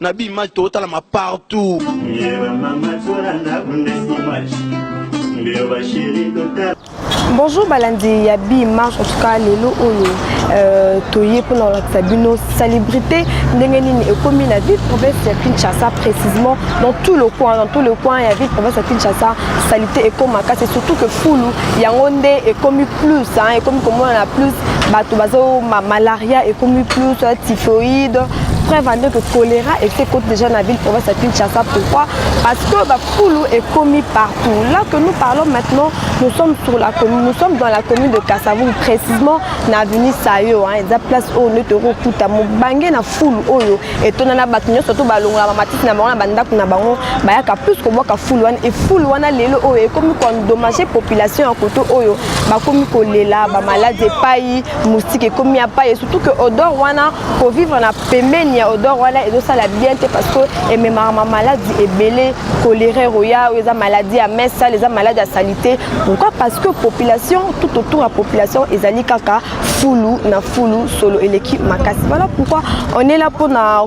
na bi image totalama partout bonjour balandi ya bi image en tout cas lelo oyo euh, toye mpona kolakisa bino salubrité ndenge nini ekomi na ville province ya kinshasa précisement dans tout le coin dans tout le coin ya ville province ya kinshasa salite ekoma kasi surtout que fulu yango nde ekomi plus ekomi komonana plus bato bazo malaria ekomi plus typhoïde preuve ande que choléra ese cote déjà na ville province ya kinshasa pourquoi parce que bafulu ekomi partout là que nous parlons maintenant nous sommes sur la commune nous sommes dans la commune de kasavou précisément na avenue sayo hein, eza place oyo nde tokokuta mobange na fulu oyo etonda na bato nyonso to balongola bamatisi na bango na bandako na bango bayaka plus kobwaka fulu wana efulu wana lelo oyo ekomi koendommage population ya koto oyo bakomi kolela bamaladi epai moustike ekomi ya pai surtout que odor wana ko vivre na pembeni ya odeur wana ezosala bien te parce que ememaka ma maladie ebele choléra roya oyo eza maladie ya main sale eza maladie ya salite pourquoi parce que population tout autour ya population ezali kaka fulu na fulu solo eleki makasi voilà pourquoi on est là mpona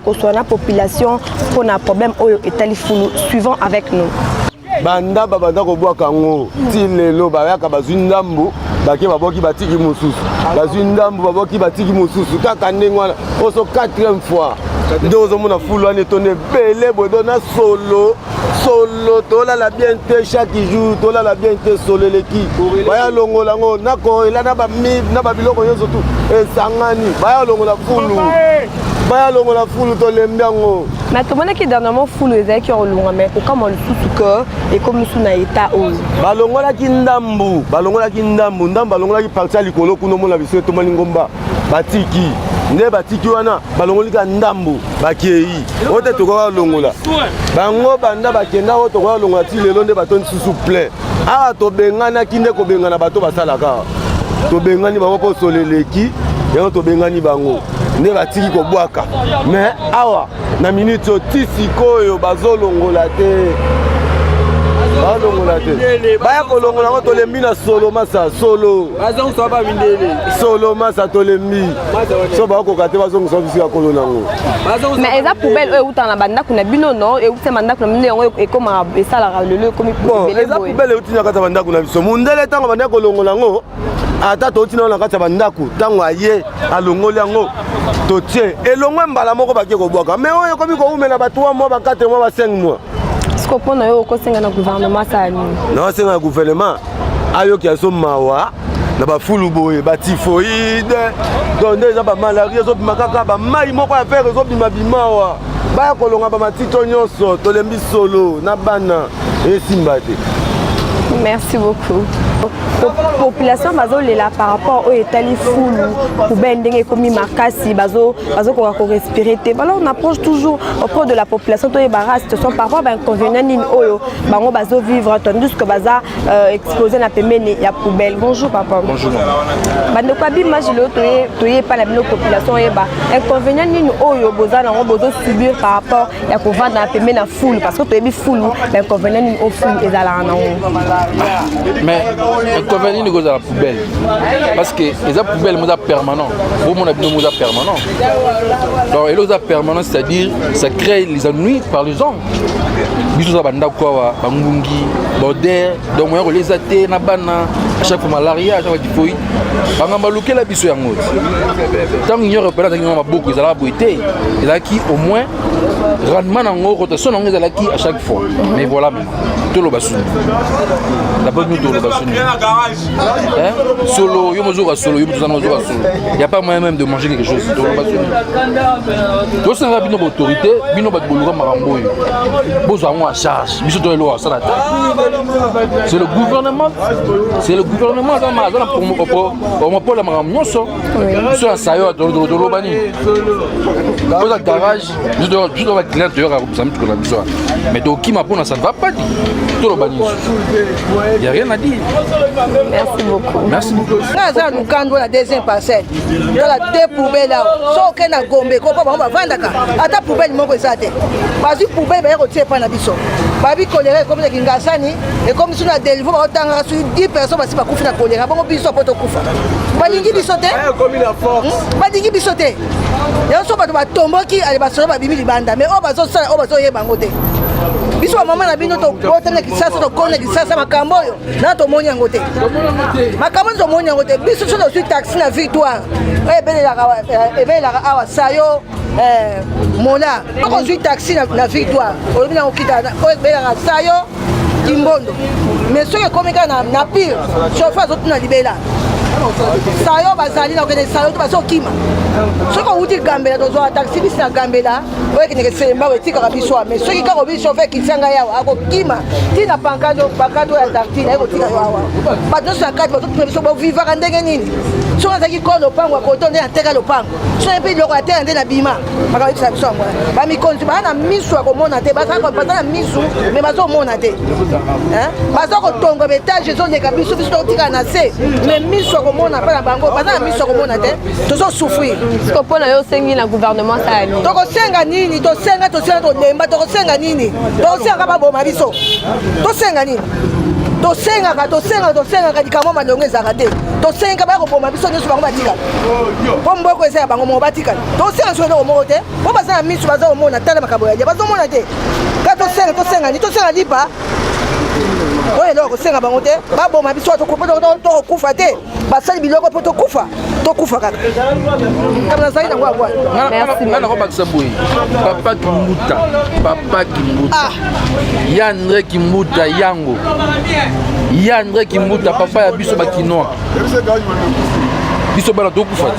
koswana population mpona problème oyo etali fulu suivant avec nous banda babanda kobwaka yango ti lelo bayaka bazwi ndambo bake babwaki batiki mosusu bazwi ndambo babwaki batiki mosusu kaka ndenge wana oso quatrième fois nde ozomona fulu wana etondi ebele bodo na solo solo tolala bien te chaque jour tolala bien te solo eleki baya longola yango nakoela na babiloko nyonso tu esangani baya longola fulu baya longola fulu tolembi yango mais tomonaki dernièrement fulu ezalaki ya kolonga mais kokamwa lisusu ke ekomi mosusu na etat oyo balongolaki ndambu balongolaki ndambu ndambu balongolaki parti ya likolo kuna omona biso etomani ngomba batiki nde batiki wana balongoli ka ndambu bakei oyo te tokoka kolongola bango banda bakenda oyo tokoka kolongola ti lelo nde bato lisusu plein awa tobenganaki nde kobengana bato basalaka tobengani bango mpo solo eleki yango tobengani bango nde batiki kobwaka me awa na minute oyo ti sikoyo bazolongola te balongola te baya kolongola yango tolembi na solo masa solo solo masa tolembi so bakoka te bazongisa biso ya kolo nango mais eza poubelle oyo eutaka na bandako na bino no euti bandako na bino yango ekomaka esalaka lelo ekomi eza poubelle euti na kati ya bandako na biso mondele ntango bandaki kolongola yango ata touti nao na kati ya bandako ntango aye alongoli yango totie elongwe mbala moko bake kobwaka me oyo ekomi kowumela ba 3 mwa ba 4 mwa ba 5 mwa siko mpo na yo okosenga na guvernema asala nini naosenga na guvernema ayoki azo mawa na bafulu boye batifoide donc nde eza bamalari ezobima kaka bamai moko ya fere ezobima bimawa baya kolonga bamatito nyonso tolembi solo na bana esimba te merci beaucoup population bazolela par rapport oyo etali fulu poubelle ndenge ekomi makasi bazokoka korespire te bala on approche toujours auprès de la population toyeba race te sont par rapport bainconvénient nini oyo bango bazovivre tandis que baza euh, explose na pembeni ya poubelle bonjour papa bandeko ya bimage leo toye epai na bino population oyeba inconvénient nini oyo boza nango bozosubir par rapport ya kovanda pembe na fulu parce que toyebi fulu na inconvenient nini o fulu ezalaka na yango mais inconvenient nini kozala poubelle parce que eza poubelle moza permanent bomona bino moza permanent donc elo oza permanent c'est à dire ça crée les ennuis par les gens biso oza bandako awa bangungi border donc moya kolia eza te na bana chaque fois malaria chaque fois tifoid banga balukela biso yango ntango union européenne azalaki ngo maboko ezalaka boye te ezalaki au moins rendement na yango rotation na yango ezalaki à chaque fois mais voilà maintenant toloba suni dabord nous toloba suni solo yo mozoka solo yo mozana ozoka solo il y a pas moyen même de manger quelque chose toloba suni tosengaka bino baautorité bino bato boluka makambo oyo bozwa yango en charge biso to eloko asala te c'est le gouvernement c'est le gouvernement aza na monopole ya makambo nyonso biso ya sayo toloba nini oza garage biso toyoka baclient toyoka kobisa mituko na biso mais tokima mpona ça ne va pas dit toloba nini ya rien à dire merci beaucoup aza ya lukando na deuxième parcelle tala de poubele awa so oke na gombe kopa bango bavandaka ata poubele moko eza te bazwi poubele baya kotia epai na biso babi kolera ekomi na kingasani ekomi biso na delivo baotangaka soki 10 personne basi bakufi na kolera bongo biso apo tokufa balingi biso te eh, hmm? balingi biso te yango so bato batomboki ale basolo babimi libanda mais oyo bazosala oyo bazoyeba yango te biso bamama na bino tokota na kisasa tokona kisasa makambo oyo na tomoni yango te makambo nde tomoni yango te biso so tozwi taxi na victoire eh, ebelelaka eh, awa sayo eh, mona okozwi taxi na victoire olobi na okita oyo ebelelaka sayo kimbondo mais soki ekomi kaka na pire chauffeur azotuna libela sayo bazali na kokende sayo to bazokima soki owuti gambela tozwaka taxi bisi na gambela oyo ekendeke selembao etikaka biso awa mais soki kaka obi chauffeur kitisa ngai awa akokima ti na pankado pankado ya tartine ayekotika yo awa bato nyonso ya kati bazotuna biso bovivaka ndenge nini soki azalaki ko lopango ya koto nde nateka lopango soki mpe biloko ya tela nde na bima bakayebisa biso yango bamikonzi baa na misu ya komona te baza na misu me bazomona te baza kotonga baetage ezoleka biso biso tokotikala na se me misu ya komona mpe na bango baza na misu ya komona te tozo souffrir siko mpo na yo osengi na gouvernement asala nini tokosenga nini tosenga tosenga tolemba tokosenga nini tokosengaka baboma biso tosenga nini tosengaka tosengaka tosengaka likambo malongo ezalaka te tosengaka baya koboma biso nyonso bango batikala mpo mboko eza ya bango moko batikala tosenga soki eloko moko te mpo baza na miso baza komona tala makambo ya lia bazomona te ka tosenga tosenga ni tosenga lipa oyo eloko kosenga bango te baboma biso tokokufa te basali biloko mpo tokufa tokufa kaka kama nazali nango abwa nga nakobakisa boye papa kimbuta papa kimbuta ah. ya andre kimbuta yango ya andre kimbuta papa ya biso bakinois biso bana tokufa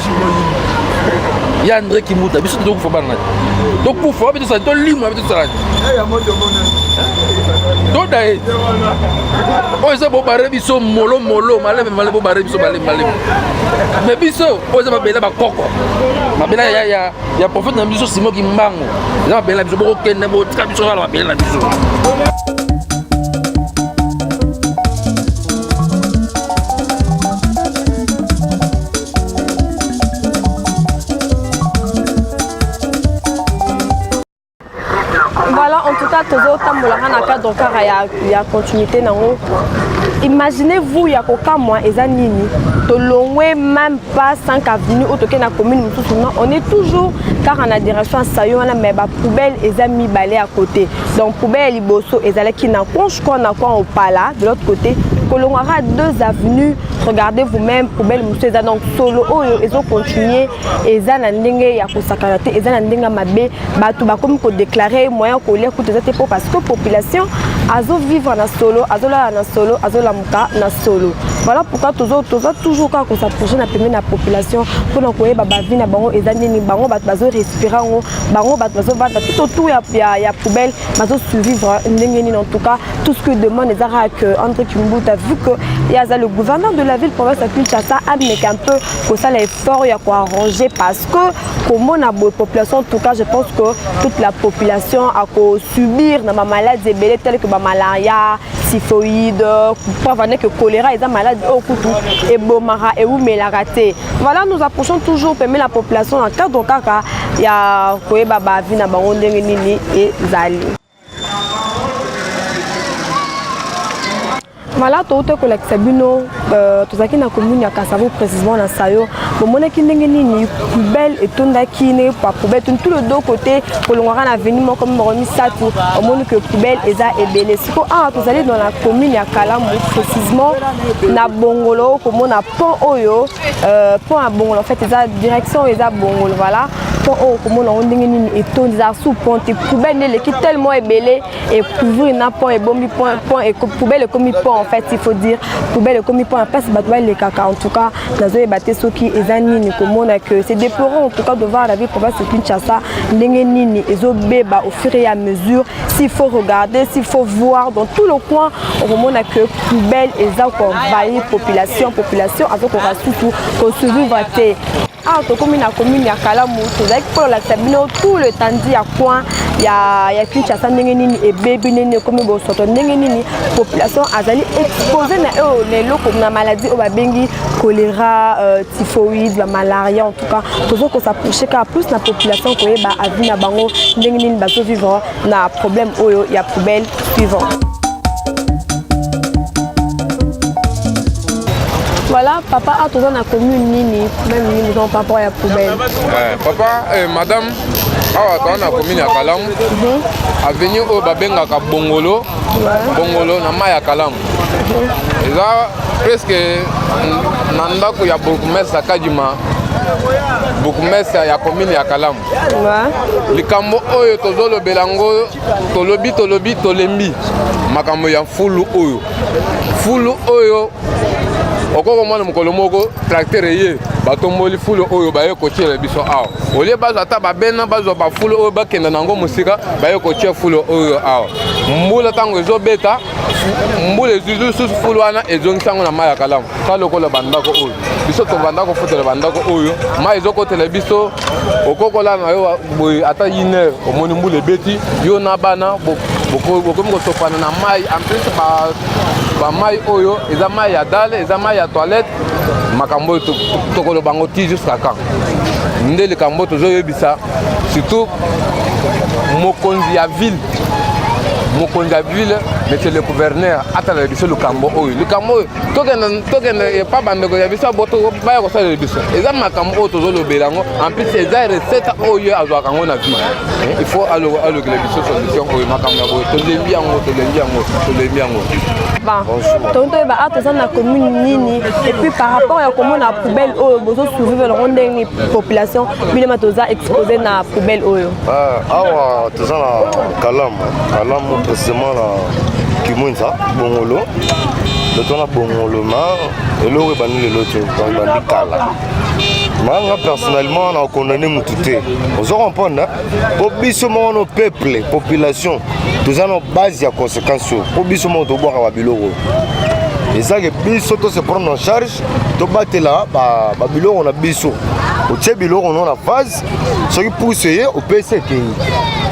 ya andre kimbuta biso tokufa bana tokufa wapi tosali tolimwa toda ye oyo eza bobare biso molo molo maleme maleme bobare biso maleme maleme me biso oyo eza mabela bakoko mabela ya, ya, ya profete na biso simo kimbango eza mabela na biso bokokende botika biso kala mabela na biso Voilà, en tout cas, tozo tambola na cadre kara ya ya continuité nango. Imaginez-vous ya kokamwa eza nini? Tolongwe même pas 5 avenue au toke na commune mususu non, on est toujours car en admiration sayo wana mais ba poubelle eza mibale à côté. Donc poubelle liboso ezalaki na conche quoi na quoi opala de l'autre côté kolongwaka deux avenues regardez vous-même poubelle mosusu eza donc solo oyo ezocontinue eza na ndenge ya kosakana te eza na ndenge ya mabe bato bakomi kodeklare moyen ya kolia kutu eza te mpo parce que population azovivre na solo azolala na solo azolamuka na solo voilà pourquoi toza toujours kaka kosaproche na pembeni ya population mpona koyeba bavi na bango eza nini bango bato bazorespire yango bango bato bazovanda tout autour ya, ya, ya poubelle bazosurvivre ndenge nini en tout cas tout ce que demande eza kaka que andre kimbuta vu que ye aza le gouverneur de la ville province ya kinshasa ameka un peu kosala effort effort ya ko arranger parce que komona boye population en tout cas je pense que toute la population ako subir na ba malades ebele telles que ba malaria typhoïde pourquoi vanda que choléra eza malade oyo kutu ebomaka ewumelaka te voilà nous approchons toujours pembe la population na cadre kaka ya koyeba bavi na bango ndenge nini ezali mala touta kolakisa bino euh, tozalaki na commune ya kasavo précisement na sayo bomonaki ndenge nini poubelle etondaki ndenge poubelle toni tout le deux côté kolongwaka na aveni moko mibako misato omoni ke poubelle eza ebele siko awa ah, tozali dans la commune ya kalamu précisement na bongolo komona pont oyo euh, pont ya bongolo en fait eza direction eza bongolo voilà pont oyo okomona yango ndenge nini etondi ezala sous pont te poubelle nde eleki tellement ebele ekouvrir na pont ebombi poubelle ekomi pont en fait il faut dire poubelle ekomi pont ya mpasi bato balekaka en tout cas nazoyeba te soki eza nini komona que c'est déplorant en tout cas de voir la ville province de kinshasa ndenge nini ezobeba au fur et à mesure s'il faut regarder s'il faut voir dans tout le coin okomona que poubelle eza koenvahir population population azokoka susu kosurvivre te awa tokomi na commune ya kalamu tozalaki mpo lolakisa bino tout le tandi ya coin ya, ya kinshasa ndenge nini ebebi ndenge nini ekomi bosoto ndenge nini population azali expose na oyo na eloko na maladie oyo babengi choléra euh, typhoïde bamalaria en tout cas tozokosa proche kaka plus na population koyeba avi na bango ndenge nini bazovivre na problème oyo ya poubelle suivant. Voilà, papa a toza na commune nini même nini donc par rapport ya poubelle. Euh, papa euh, madame awa toza na commune ya Kalamu. Mhm. Avenue oyo babengaka Bongolo. Bongolo na mai ya Kalamu. Mhm. Eza presque na ndako ya bourgmestre Kadima bourgmestre ya commune ya Kalamu. likambo oyo tozolobela yango tolobi tolobi tolembi makambo ya fulu oyo fulu oyo okoki komona mokolo moko tracteur eye batomboli fulu oyo baye kotiela biso awa olie bazwa ata babena bazwa bafulu oyo bakenda na yango mosika baye kotia fulu oyo awa mbula ntango ezobeta mbula ezwi lisusu fulu wana ezongisi yango na mai ya kalamu ta lokola bandako oyo biso tobanda kofutela bandako oyo mai ezokotela biso okokola na yo boye ata une heure omoni mbula ebeti yo na bana bokomi kosopana na mai en plus bamai oyo eza mai ya dale eza mai ya toilette makambo oyo tokoloba yango ti jusqu'à quand nde likambo tozoyebisa surtout mokonzi ya ville mokonzi ya ville monsieur le gouverneur atalala biso likambo oyo likambo oyo tokenda tokenda epa bandeko ya biso baya kosalela biso eza makambo oyo tozolobela yango enplus eza recette oyo azwaka yango na vie eh, il faut alukela biso solution oyo makambo ya boye tolembi yango tolembi yango tolembi yango tongi toyeba a toza na commune nini epuis par rapport ya komona poubelle oyo bozosouvivre yango ndenge population bilema toza expose na poubelle oyo Eh, awa toza na kalamu kalamu precisement na kimwenza bongolo loto na bongolo ma eloko ebandi lelo te ebandi kala nanga personnellement na condamne motu te ozo comprendre mpo biso moko no peuple population toza na base ya conséquence oyo mpo biso moko tobwaka babiloko ezalaki biso to se prendre en charge tobatela babiloko na biso otie biloko no na phase soki pusu eye opesi ekei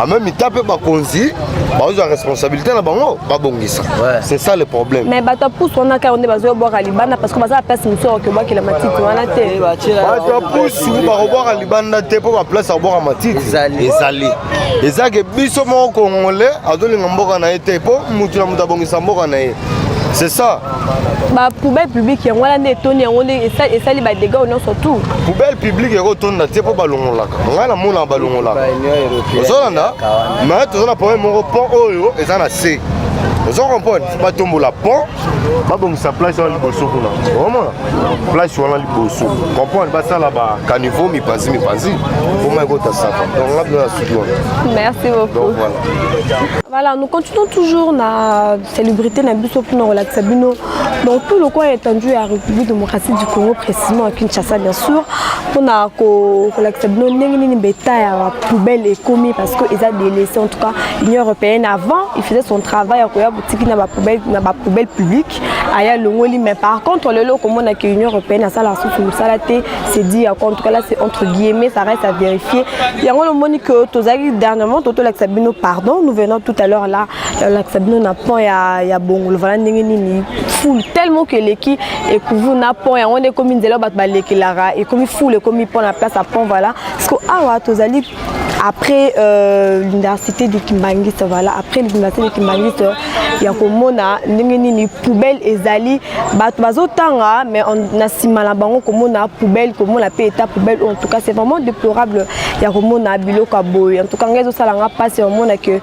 en même temps mpe bakonzi bazwa responsabilité na bango babongisa c'est ça le problème mais bato ya pusu wana kaka nde bazo bwaka libanda parce que baza baplace mosusu oke bwakela matiti wana te eh, bato ya pusu bakobwaka libanda te mpo baplace ya kobwaka matiti ezali ezalaki biso moko kongole azolinga mboka na ye te mpo motu na moto abongisa mboka na ye c'est ça ba poubelle publique yango wana nde etoni yango nde esali ba dégâts nyonso tout poubelle publique yango otonda te mpo balongolaka ngai namonaka balongolaka ozolanda mais toza na problème moko pont oyo eza na se ozo comprendre batombola pont babongisa place wana liboso kuna omona place wana liboso comprendre basala ba caniveau mipanzi mipanzi omai kota saka donc nga bino na suki wana merci beaucoup donc voilà voilà nous continuons toujours na célébrité na biso mpona kolakisa bino dans tout le coin étendu ya république démocratique du congo précisément à kinshasa bien sûr mpona kolakisa bino ndenge nini beta ya poubelle ekomi parce que eza délaissé en tout cas union européenne avant il faisait son travail ya koya botiki na bapoubelle na bapoubelle publique aya longoli mais par contre lelo okomona ke union européenne asala susu mosala te c'est dit ya en tout cas là c'est entre guillemets ça reste à vérifier yango lomoni que tozalaki dernièrement totolakisa bino pardon nous venons tout à l'heure là olakisa bino na pont ya, ya bongolo vala ndenge nini ful tellement que eleki ekuvu na pont yango nde ekomi nzela bato balekelaka ekomi ful ekomi pont na place ya pont vala parceke awa tozali après euh, l'université de Kimbanguiste voilà après l'université de Kimbanguiste ya komona ndenge nini poubelle ezali bato bazotanga mais na nsima na bango komona poubelle komona mpe eta poubelle en tout cas c'est vraiment déplorable ya komona biloko ya boye en tout cas ngai ezosala nga mpasi omona que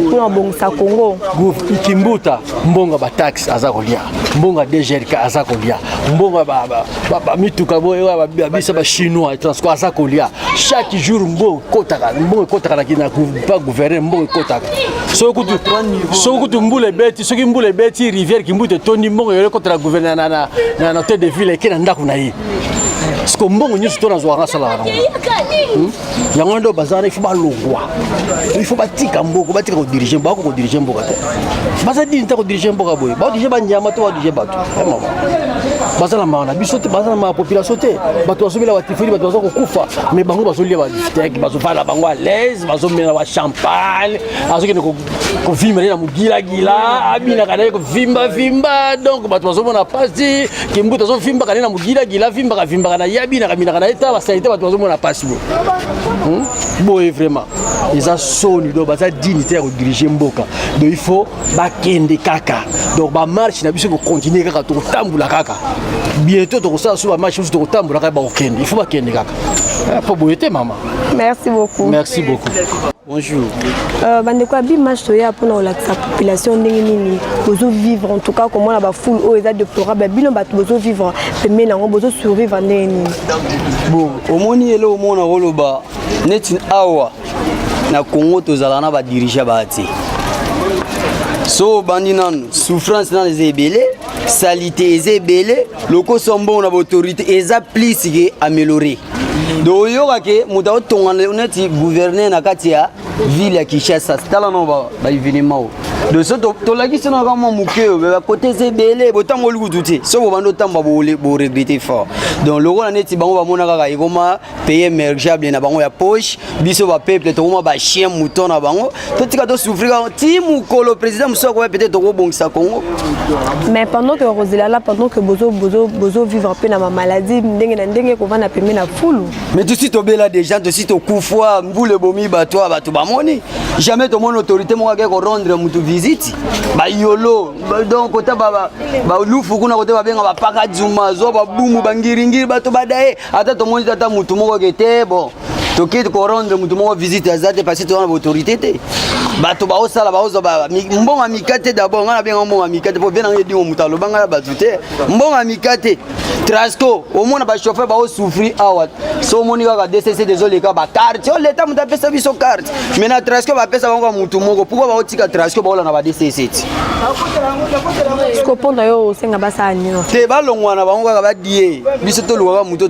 mpona kobongisa congo kimbuta mbongo bataxe aza kolia mbongo ya dgrk aza kolia mbongo bamituka boye biso bachinois transco aza kolia chaque jour mbongo ekotaka mbongo ekotaka pa gouverne mbongo ekotaka soki kutu mbula ebeti soki mbula ebeti rivière kimbuta etondi mbongo eyo ekotaka gouverne na hotel de ville eke na ndako na ye siko mbongo nyonso to nazwaka nasalaka nango yango wana nde baza wana ifo balongwa ifo batika mboko batika kodirige bako kodirige mboka te baza dini te kodirige mboka boye badirige banyama to badirige bato eh, mama baza na mawa na biso te baza na mawa population te bato bazomela batifoli bato baza kokufa mais bango bazolia badisteke bazovanda bango alaise bazomela bachampagne azokende kovimba nde na mogilagila abinaka nde kovimba vimba donc bato bazomona mpasi kimbuta azovimbaka nde na mogilagila avimbaka vimbaka na ye abinaka binaka na ye ta basalite bato bazomona mpasi bo hmm? boye vraiment eza soni donc baza dini te ya kodirige mboka donc il faut bakende kaka donc bamarche na biso ekokontinue kaka tokotambola kaka bientôt tokosala so bamarche mosusu tokotambola kaka bakokende il faut bakende kaka mpo eh, boye te mama merci beaucoup merci beaucoup Bonjour. Euh, bandeko ya bimash toya mpona kolakisa population ndenge nini bozovivre en tout cas komona bafoule oyo eza déplorable bino bato bozovivre pembeni yango bozosurvivre ndenge nini bon omoni eloko moko nakoloba neti awa na congo tozalaka na badirige baa te so obandi nanu souffrance nanu eza ebele salite eza ebele lokoso mbongo na baautorité eza plus ke amélioré donc oyoka ke moto aotongana neti gouverneur na kati ya ville ya kinshasa tala no baevenema oyo donc so tolakisi no kaka mwa moke oyo bakote eza ebele botambo olukutu te soki bobandi otamba boregrete fort donc lokola neti bango bamona kaka ekoma paye mergeable na bango ya poche biso ba peuple tokoma ba chien mouton na bango totika tosouffrir yango ti mokolo président mosusu akoya peut-être tokobongisa congo mais pendant que bakozela la pendant que bozo bozo bozo vivre mpe na bamaladie ndenge na ndenge kovanda pembe na fulu mais tosi tobela déjà tosi tokufwa mbula ebomi bato ya bato bamoni jamais tomoni autorité moko akei korendre motu visite bayolo donc kota balufu kuna kote babenga bapaka dzuma zwa babumu bangiringiri bato badaye ata tomoni ata motu moko ke te bon toki korendre motu moko visite aza te parce toza na baautorité te bato baosala baozwa mbongo ya mika te dabord ngai nabenga mbongo ya mika te mpo bena ngai edimo moto aloba ngai na bato te mbongo ya mika te trasco omona bachauffeur baosouffrir awa so omoni kaka dcc tezoleka bacarte o oh, leta moto apesa biso carte mais na trasco bapesa bango ya motu moko pourkoi baotika trasco baola na ba dc7 mpo na yo osenga basala nino te balongwa na bango kaka badie biso toluka kaka moto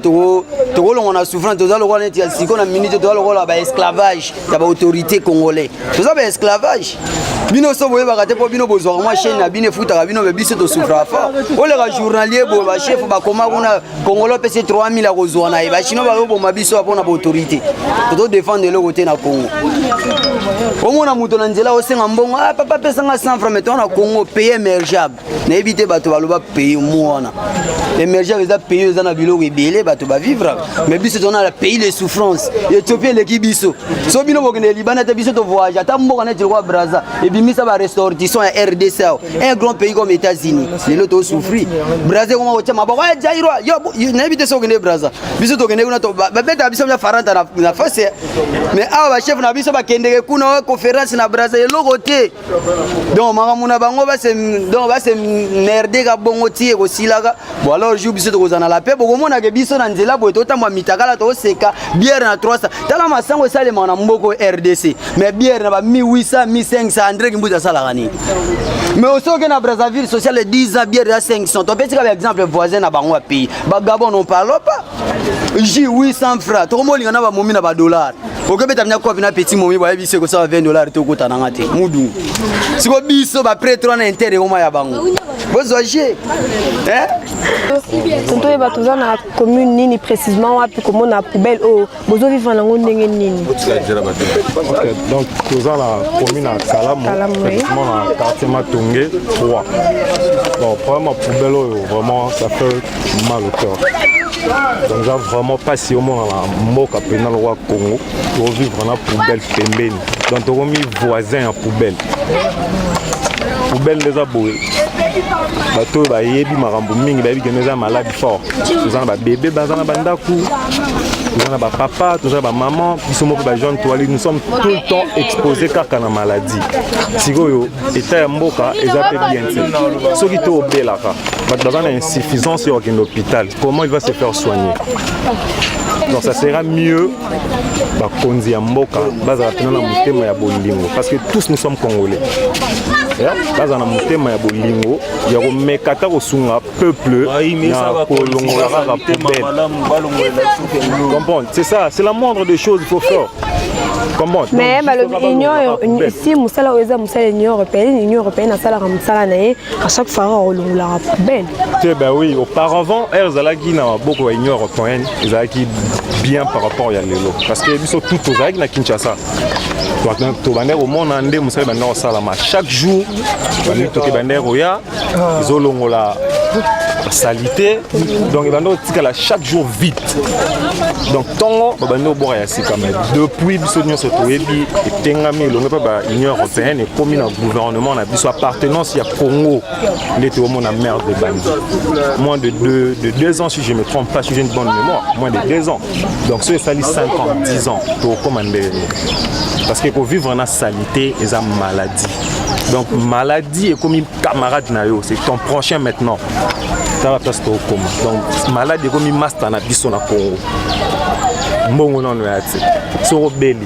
tokolongwa na souffrance toza lokola neti ya siko na minute toza lokola baesclavage ya baautorité congolais toza baesclavage bino so boyebaka te mpo bino bozwaka mwa chaine na bino efutaka bino me biso tosufraka fort oleka journalier boye bachef bakoma kuna kongolo apesi 3000 akozwa na ye bachino bazoboma biso ya mpona baautorité tozodefendre eloko te na congo omona moto na nzela osenga mbongo ah, papa apesanga 100 franc meto na congo paye emergeable nayebi te bato baloba paye mwana emergeable eza paye eza na biloko ebele bato bavivre mais biso tozana na pays de souffrance ethiopie eleki biso so bino bokende libanda te biso tovoyage ata mboka neti lokwa braza ebimisa barestortissant ya rdc un grand pays comme États-Unis lelo to souffrir Brazza koma kotia maboko ya Jairo yo nayebi te soki okende Brazza biso tokende kuna babetaka biso mia faranta na face mais awa bachef na biso bakendeke kuna wa conférence na Brazza eloko te donc makambo na bango base donc base merde ka bongo ti ekosilaka Bon alors jour biso tokozala na la paix bokomona ke biso na nzela boye totambwa mitakala toseka bière na 300 tala masango esalema na mboko RDC mais bière na ba 1800 1500 Andre Kimbuta asalaka nini mais aussi oke na Brazzaville social 10 ans bière ya 500 topesi kaka exemple voisin na bango ya pays ba Gabon on parle pas ji 800 francs tokomolinga na bamomi na badollar okobeta mna kopi na petit momi boyebi biso ekosala 20 dollar tokota na nga te mudungu siko biso bapretre wana intere ekoma ya bango bozwa je eh? tonto oyeba toza na commune nini précisement wapi komona poubelle oyo bozo vivre nango ndenge nini donc toza na commune ya kalamu précisement na quartier matonge 3 bon problème ya poubelle oyo vraiment ça fait mal au cœur donc eza vraiment mpasi omonana mboka mpenza lokola congo tovivre na poubelle pembeni donc tokomi voisin ya poubelle poubelle nde eza boye bato oyo bayebi makambo mingi bayebi kende eza malade fort toza na babebe baza na bandako toza na bapapa toza na bamama biso moko bajeune toali nous sommes tout le temps exposé kaka na maladie sikoyo etat ya mboka eza mpe bien te soki to obelaka bato baza na insuffisance ya kokende hôpital comment il va se faire soigner donc ça sera mieux bakonzi ya mboka bazala mpena na motema ya bolingo parce que tous nous sommes congolais bazala na motema ya bolingo ya komeka ata kosunga peuple na kolongola kaka poubelle comprendre c'est ça c'est la moindre des choses il faut faire mais balobi union si mosala oyo eza mosala union européenne union européenne asalaka mosala na ye À chaque fois, on roule la poubelle. Eh ben oui, auparavant, elle zalaki na maboko ya Union européenne, ezalaki bien par rapport ya lelo. Parce que biso tout tozalaki na Kinshasa. tobandaki komona nde mosala ebandaki kosalama chaque jour bandi toke bandaki koya ezolongola salite donc ebandi kotikala chaque jour vite donc ntongo babandi kobwaka ya sika mai depuis biso nyonso toyebi etengami elongo mpe ba union européenne ekomi na gouvernement biso appartenance ya congo nde toomona mare de bandi moins de deux, de deux ans si je me trompe pas si j'ai une bonne mémoire moins de deux ans donc soki esali 5 ans 10 ans tokokoma ndenge nini parce que kovivre na salite eza maladie donc maladie ekomi camarade na yo c'est ton prochain maintenant tala place tokokoma donc malade ekomi masta na biso na congo mbongo nano ya te soko obeli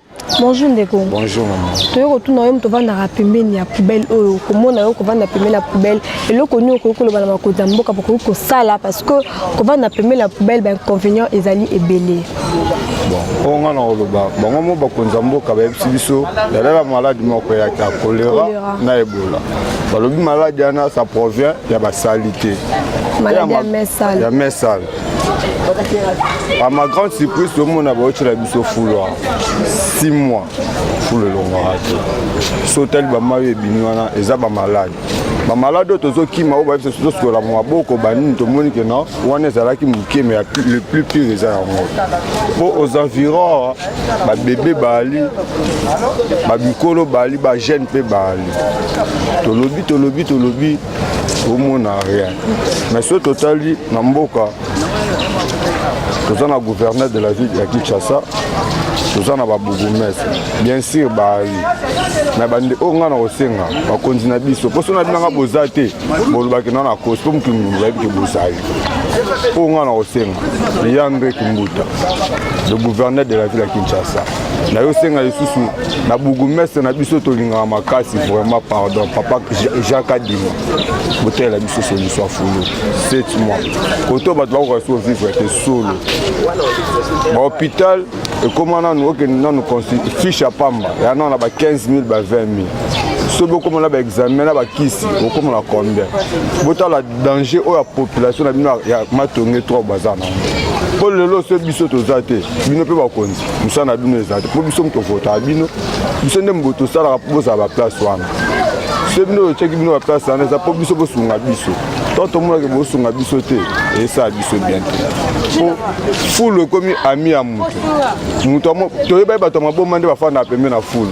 Bonjour ndeko. Bonjour maman. Toyo kotuna yo moto vandaka pembeni ya poubelle oyo komona yo kovanda pembeni ya poubelle eloko nini okoki koloba na bakonzi ya mboka bokoki kosala parce que kovanda pembeni ya poubelle bainconvénient ezali ebele. Bon, oyo ngai nakoloba bango mo bakonzi ya mboka bayebisi biso yalela maladi moko eyaki ya kolera na ebola balobi maladi wana ça provient ya basalite ya mesale A ma grande surprise, tout le monde a vu la biso fouloir. 6 mois, fou le long raté. Sautel ba mayo binwana, eza ba malade. Ba malade oyo tozokima oyo bayebisa biso tosokola maboko banini tomoni ke na wana ezalaki moke me le plus pire eza yango mpo aux environs babebe baali babikolo baali bajeune mpe baali tolobi tolobi tolobi omona rien mais soki totali na mboka toza na gouverneur de la ville ya kinshasa toza na babourgmestre bien sûr bayi na bande oyo ngai na kosenga bakonzi na biso mposo na binanga boza te bolobaki na na kosi mpo motu bayebi ke bozali oyo ngai na kosenga yandre kimbuta le gouverneur de la ville ya kinshasa nayosenga lisusu na bourgmestre na biso tolingaka makasi vraiment pardon papa jean kadima botalela biso solution fulu sept mois koto bato bakoka so vivre te solo bahôpital ekóma nanu okende nanu fiche ya pamba ya nano na ba 15 000 ba 20 000 soki bokoma na baexamen na bakisi bokoma na combien botala danger oyo ya population na bino ya matonge 3 baza nango mpo lelo so biso toza te bino mpe bakonzi mosala na bino eza te mpo biso moto votaka bino biso nde mobo tosalaka mpo bozala baplace wana so bino otyaki bino baplace wana eza mpo biso bosunga biso to tomonaki bosunga biso te esala biso bien te mpo fulu ekomi ami ya moto moto toyebaki bato ya maboma nde bafanda pembe na fulu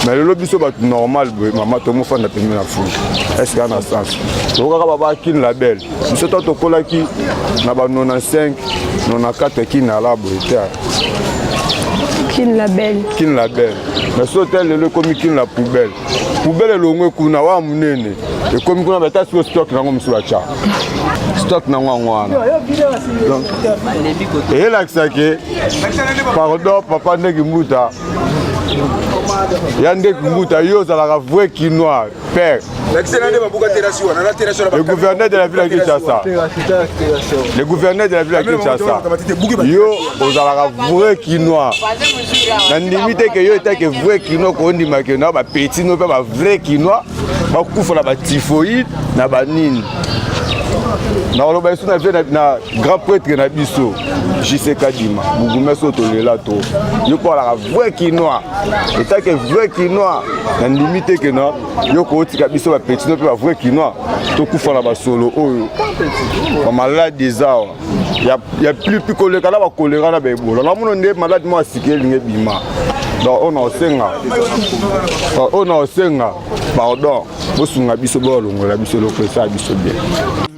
mais lelo biso bato normal boye mama tomofanda pembe na fulu eske ana sens tokokaka babakini label biso to tokolaki na ba 95 94 kinala boye te kin label kin label mais so te lelo ekomi kin la poubelle poubelle elongwe kuna wa monene ekomi kuna bata siko stock nango mosusu batya stock nango yango wana eyelakisa ke pardon papa ndeki mbuta ya ndeki mbuta yo ozalaka vrai kinois Père. Le gouverneur de la ville de Kinshasa. Le gouverneur de la ville de Kinshasa. Yo, ozalaka vrai kinois. Na ndimi te que yo etake vrai kinois ko ndima que na ba petit no pe ba vrai kinois ba kufa na ba typhoïde na ba nini. Na oloba isu na vie na grand prêtre na biso. JC Kadima, bourgmestre otolela to. Yo ko alaka vrai kinois. etat ke vrai kinois nandimi te ke na yo kootika biso bapetino mpe bavrai kinois tokufa na basolo oyo bamaladi eza awa ya plipi koleka na bakolera na baebola namono nde maladi moko asiki elingi ebima donc oyo naosenga oyo naosenga pardon bosunga biso boyalongola biso eloko esa biso bien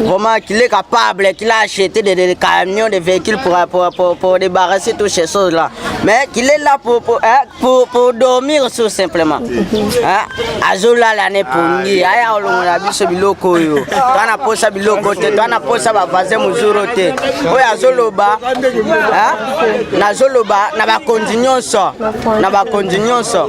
Vraiment, qu'il est capable, qu'il a acheté des, des, des camions, des véhicules pour, pour, pour, pour débarrasser toutes ces choses-là. Mais qu'il est là pour, pour, hein, pour, pour dormir tout simplement. Hein? Azola l'année pour nous. Aya olongola biso biloko yo. Toi na posa biloko te, toi na posa ba vaser muzuro te. Oya azoloba, hein? Na zoloba na ba konzi nyonso, na ba konzi nyonso.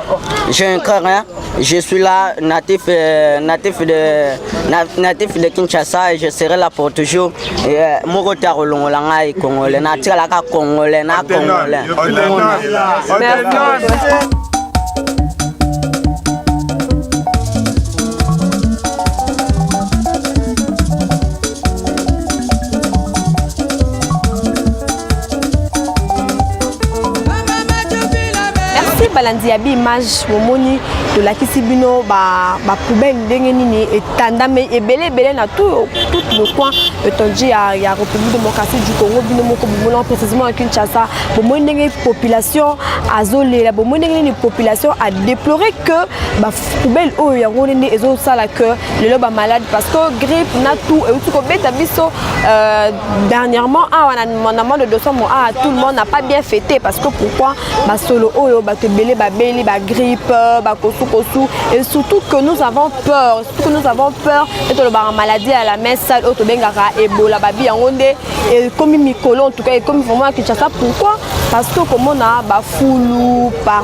J'ai un cœur, hein. Je suis là, natif, euh, natif, de, na, natif de Kinshasa et je serai là pour toujours. Euh, Moko taro longola ngai congolais, na tikala ka congolais, na congolais. Merci balandi ya Bimage bomoni tolakisi bino ba ba poubelle ndenge nini etandame ebele ebele na tout tout le coin étendu ya ya République démocratique du Congo bino moko bomona précisément à Kinshasa bomoni ndenge population azolela bomoni ndenge nini population a déplorer que ba poubelle oyo yango nde ezosala que lelo ba malade parce que grippe na tout euti kobeta biso euh, dernièrement awa ah, na, na mois de décembre awa ah, tout le monde n'a pas bien fêté parce que pourquoi basolo oyo bato ebele babeli bagrippe bakosukosu et surtout que nous avons peur surtout que nous avons peur e tolobaka maladie ya la main sale oyo tobengaka ebola babi yango nde ekomi mikolo en tout cas ekomi vraiment ya kinshasa pourquoi parce que komona bafulu par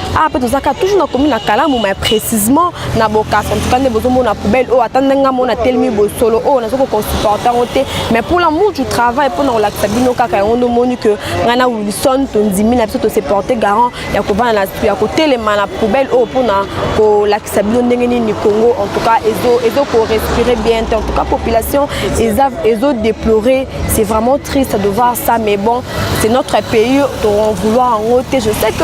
awa ah, mpe tozalaka toujours na komi na kalamu mai précisement na bokasa ntuka nde bozomona poubelle oyo oh, ata ndenge nga mona telemi bosolo oyo oh, naza kokonsupporte yango te mais pour l'amour du travail mpo na kolakisa bino kaka yango nde omoni que ngai na wilson tondimi na biso tose porte garant ya kovanda na ya kotelema na poubelle oyo oh, mpo na kolakisa bino ndenge nini congo en tout cas ezo korespire bien te en tout cas population ezo déplorer c'est vraiment triste de voir ça mais bon c'est notre pays tokovouloir yango te je sais que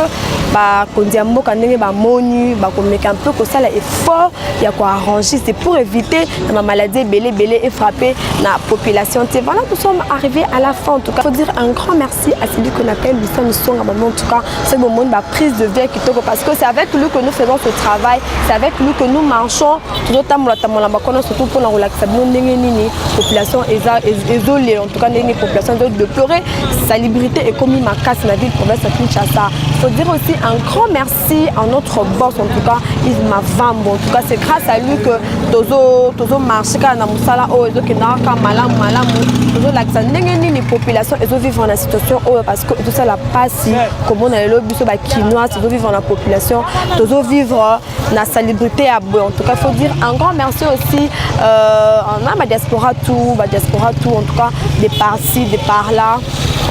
bakonzi ya mboka ndenge bamoni bakomeka mpe kosala effort ya koarranger c'est pour éviter na bamaladi ebele ebele efrappe na population te voilà nous sommes arrivés à la fin en tout cas faut dire un grand merci à celui qu'on appelle Lucien Misonga Bambo en tout cas c'est bon monde ba prise de vie kitoko parce que c'est avec lui que nous faisons ce travail c'est avec lui que nous marchons tozotambola tambola na bakona surtout mpo na kolakisa bino ndenge nini population eza ezolela en tout cas ndenge population ezo deplore salubrité ekomi makasi na ville province ya kinshasa faut dire aussi un grand merci à notre boss en tout cas yves mavambo en tout cas c'est grâce à lui que tozo tozo marche kaka na mosala oyo ezokendaka kaka malamu malamu tozolakisa ndenge nini population ezovivre na situation oyo parce que ezosala mpasi komona lelo biso bakinoise tozovivre na population tozovivre na salubrité ya boye en tout cas faut dire un grand merci aussi euh, na ba diaspora tout ba diaspora tout en tout cas des parties des par là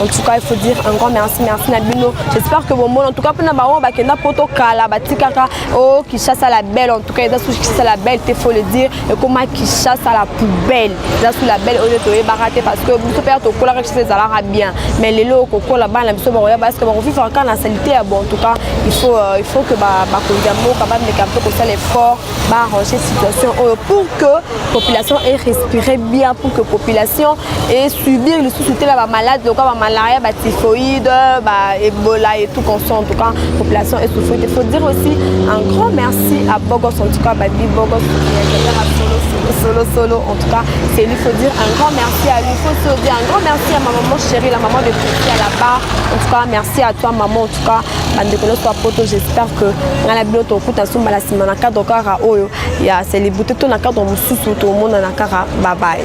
en tout cas il faut dire un grand merci merci na bino j'espère que bon en tout cas pona bango bakenda poto kala batikaka oh Kinshasa la belle en tout cas eza sous Kinshasa la belle te faut le dire ekoma kinshasa la poubelle eza sous la belle oyo toyebaka te parce que biso mpe ya tokolaka kinshasa ezalaka bien mais lelo kokola bana biso bakoya parce que bakofifaka kaka na salite ya bon en tout cas il faut, euh, il faut que bakonzi ya mboka bameka mpe kosala effort baarranger situation oyo pour que population est respiré bien pour que population et subir lisusu te na bamalade lokola bamalaria batyphoïde baebola et tout conso en tout cas population esouffre te faut dire aussi un grand merci à bogos en tout cas babi bogos solo solo en tout cas c'est lui faut dire un grand merci à lui faut se dire un grand merci à ma maman chérie la maman de Priscilla là-bas en tout cas merci à toi maman en tout cas bandeko nyonso ya poto j'espère que ngai na bino tokuta nsumba na nsima na cadre kaka oyo ya célébrité to na cadre mosusu tomonana kaka babaye